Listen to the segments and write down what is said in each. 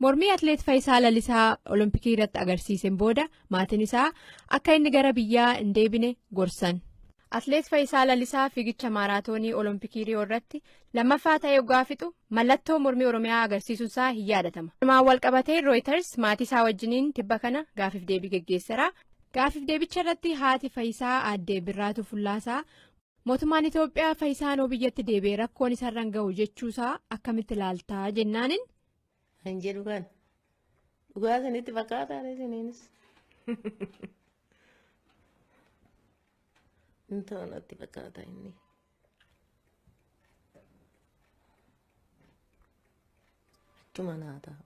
Mormii Atileet Fayisaa Lalisaa Olompikii irratti agarsiiseen booda maatiin isaa akka inni gara biyyaa hin deebine gorsan. Atileet Fayisaa Lalisaa fiigicha maaraatoonii Olompikii Riyoo irratti lammaffaa ta'ee oggaa fixu mallattoo mormii Oromiyaa agarsiisuun isaa hin yaadatama. Kanumaan walqabatee Rooyiters maatii isaa wajjiniin tibba kana gaaffiif deebii geggeessera. Gaaffiif deebicha irratti haati Fayisaa aadde Birraatuu Fullaasaa Mootummaan Itoophiyaa Fayisaa noo biyyatti deebi'e rakkoon isarran gahu jechuusaa akkamitti ilaaltaa jennaanin. Kan jedhu kan dhugaa isinitti fakkaataa isiniinis. Hin ta'u natti fakkaata inni. Achuma naa ta'a.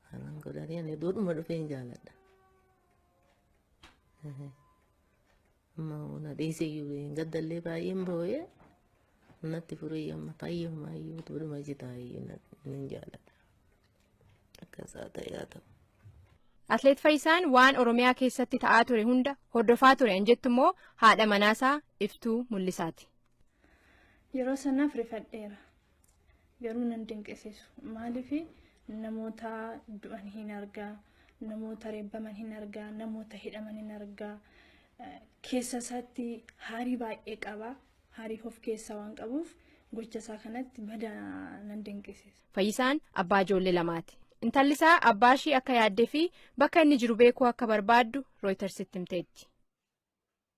Kanan godhanii ani duudhuma dhufee hin jaaladha. Mauna dhiise iyyuu hin gaddallee baay'een boo'ee natti furee amma fayyumaa iyyuu tuudhuma jitaa iyyuu nan jaalladha. Akkasaa ta'ee haa ta'u. Atleet Fayyisaan waan Oromiyaa keessatti ta'aa ture hunda hordofaa ture an jettu immoo haadha manaasaa iftuu mul'isaati. Yeroo sanaaf rifadheera. garuu nan dinqisiisu maaliif namoota du'an hin argaa namoota reebbaman hin argaa namoota hidhaman hin argaa keessa isaatti haarii baay'ee qaba haarii of keessaa waan qabuuf gocha isaa kanatti badaa nan dinqisiisa. Fayyisaan abbaa ijoollee lamaati. Intalli isaa abbaa ishii akka yaaddee fi bakka inni jiru beekuu akka barbaaddu Rooytarsitti himteetti.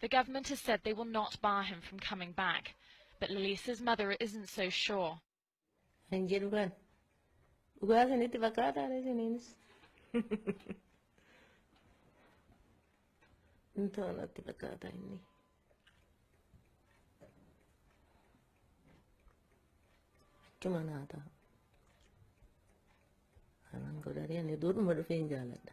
The government has said they will not bar him from coming back, but Lalisa's mother isn't so sure. Hin jedhu kan. Dhugaa isinitti fakkaataa dha isiniinis. Hin ta'u natti fakkaata inni. Achuma naa ta'a. Kanan godhanii ani duudhuma dhufeen jaaladha.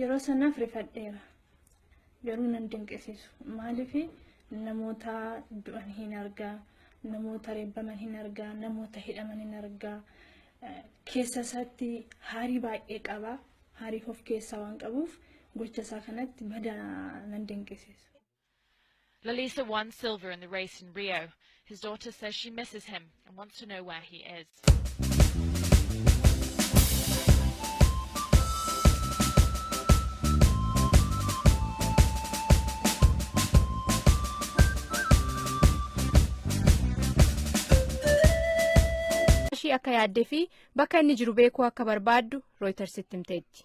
Yeroo sanaaf rifadheera. Garuu nan dinqisiisu. Maaliif namoota du'an hin argaa, namoota reebbaman hin argaa, namoota hidhaman hin argaa. Keessa isaatti haarii baay'ee qaba. Haarii of keessaa waan qabuuf gocha isaa kanatti badaa nan dinqisiisu. Lelisa won silver in the race in Rio. His daughter says she misses him and wants to know where he is. ishii akka yaaddee fi bakka inni jiru beekuu akka barbaaddu rooytarsitti himteetti.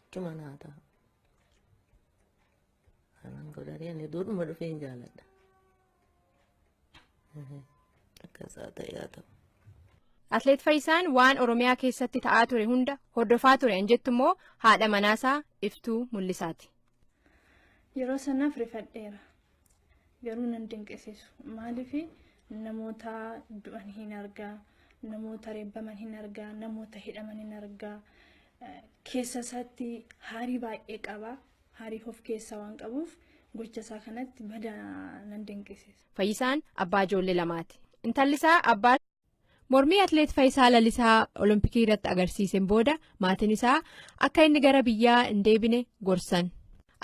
Akkuma naa ta'a. Kanan godhanii ani duudhuma dhufee hin jaaladha. Akka isaa ta'e haa ta'u. Atleet Fayyisaan waan Oromiyaa keessatti ta'aa ture hunda hordofaa ture an jettu immoo haadha manaasaa iftuu mul'isaati. Yeroo sanaaf rifadheera. garuu nan dinqisiisu maaliif namoota du'an hin argaa namoota reebbaman hin argaa namoota hidhaman hin argaa keessa isaatti haarii baay'ee qaba haarii of keessaa waan qabuuf gocha isaa kanatti badaa nan dinqisiisa. Fayyisaan abbaa ijoollee lamaati. Intalli isaa abbaa Mormii Atileet Fayisaa Lalisaa Olompikii irratti agarsiiseen booda maatiin isaa akka inni gara biyyaa hin deebine gorsan.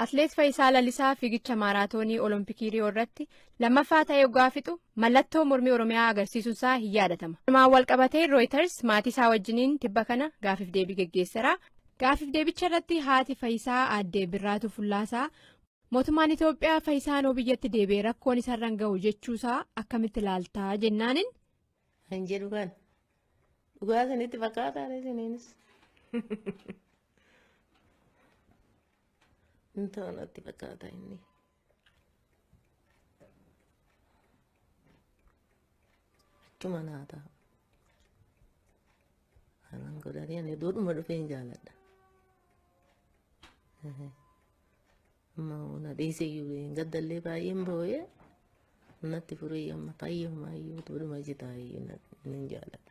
Atileet Fayisaa Lalisaa fiigicha maaraatoonii Olompikii Riyoo irratti lammaffaa ta'ee oggaa fixu mallattoo mormii Oromiyaa agarsiisuun isaa hin yaadatama. Kanumaan walqabatee Rooyiters maatii isaa wajjiniin tibba kana gaafif deebii geggeessera. Gaafif deebicha irratti haati Fayisaa aadde Birraatuu Fullaasaa Mootummaan Itoophiyaa Fayisaanoo biyyatti deebi'e rakkoon isarran gahu jechuusaa akkamitti ilaaltaa jennaanin. Kan jedhu kan dhugaa isinitti fakkaataa isiniinis. Hin ta'u natti fakkaata inni. Achuma naa ta'a. Kanan godhatee ani duudhuma dhufeen jaaladha. Ammoo na dhiise iyyuu hin gaddallee baay'een boo'ee natti furee amma fayyummaa iyyuu duruma jitaa iyyuu na- nan jaalladha.